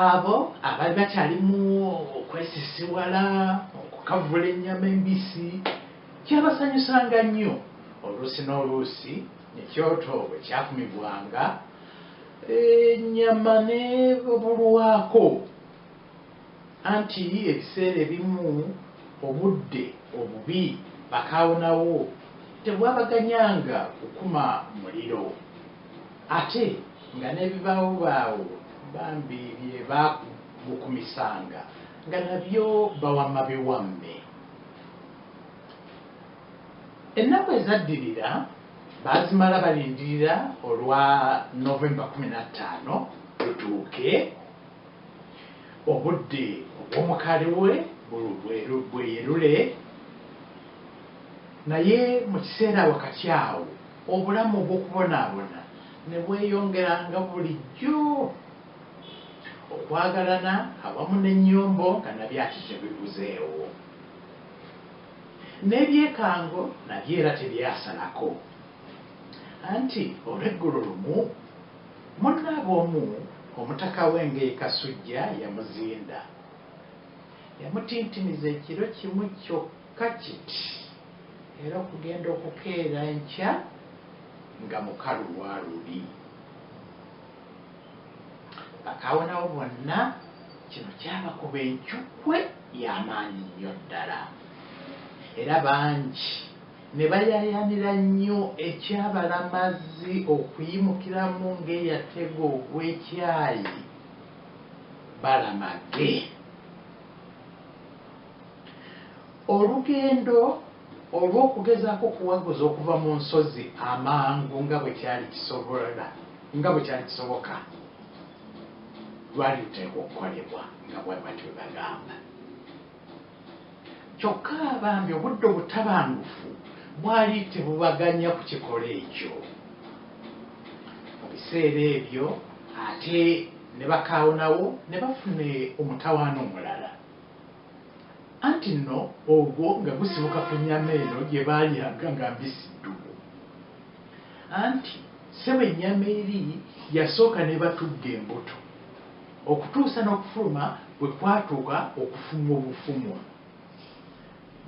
abo abali bakyalimu okwesisiwala okukavula ennyama embisi kyabasanyusanga nnyo oluusi n'oluusi ekyoto bwe kyakumibwanga ennyama nebulwako Anti ebiseera ebimu obudde obubi bakaawonawo tebwabaganyanga kukuma muliro ate nga n'ebibaawobaawo bambi bye baagukumisanga nga nabyo bawamma biwamme. Ennaku ezaddirira baazimala balindirira olwa November kkumi na ttaano lutuuke. Obudde obw'omukaali we bweyerule, naye mu kiseera wakati awo obulamu obw'okubonaabona ne bweyongera nga bulijjo. Okwagalana awamu n'ennyombo nga nabyo ate tebibuzeewo. N'ebyekango nabyo era tebyasalako. Anti olweggulo lumu. Munnaabwe omu Omutaka w'Enge e Kasujja yamuzinda. Yamutintimiza ekiro kimu kyokka kiti era okugenda okukeera enkya nga mukalu lwa luli. Bakaawonawo bonna kino kyabakuba encukwe ya maanyi nnyo ddala era bangi ne bayaayaanira nnyo ekya Balamazi okuyimukiramu ng'eyatega ogw'ekyayi balamage. Olugendo olw'okugezaako okuwaguza okuva mu nsozi amangu nga bwe kyali kisobola nga bwe kyali kisoboka lwali luteekwa okukolebwa nga bwe batyo bwe bagamba. Kyokka bambi obudde obutabangufu bwali tebubaganya kukikola ekyo. Mu biseera ebyo ate ne bakaawonawo ne bafuna omutawaana omulala, anti nno ogwo nga gusibuka ku nnyama eno gye baalyanga nga mbisi ddubu. Anti ssebo ennyama eri yasooka n'ebatugga embuto. Okutuusa n'okufuluma bwe kwatuuka okufumwa obufumwa,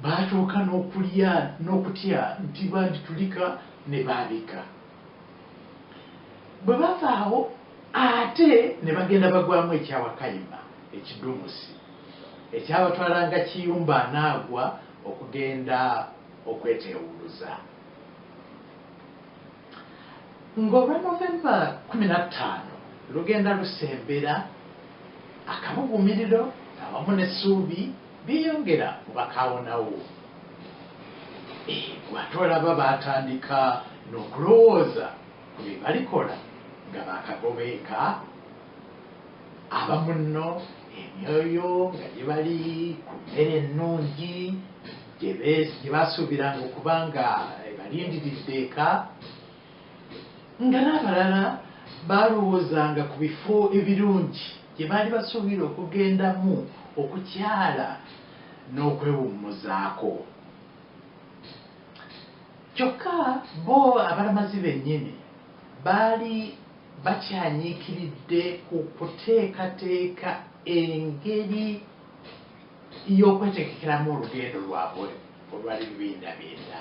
baatuuka n'okulya n'okutya nti banditulika ne baabika. Bwe bava awo ate ne bagenda bagwamu ekya Wakayima ekidumusi ekyabatwala nga Kiyumba anaagwa okugenda okweteewuluza. Ng'olwa November kkumi na ttaano lugenda lusembera, akabuguumiriro awamu n'essuubi byeyongera mu bakaawonawo. Eeh, ate olaba baatandika n'okulowooza ku bye balikola nga baakagobeeka abamunno, emyoyo nga gibali ku mmere ennungi. gye basuubiranga okuba nga ebalindiridde eka nga n'abalala baalowoozanga ku bifo ebirungi gye baali basuubira okugendamu okukyala n'okwewummuzaako kyokka bo abalamazi bennyini baali bakyanyiikiridde ku kuteekateeka engeri y'okwetegekeramu olugendo lwabwe olwa libindabinda.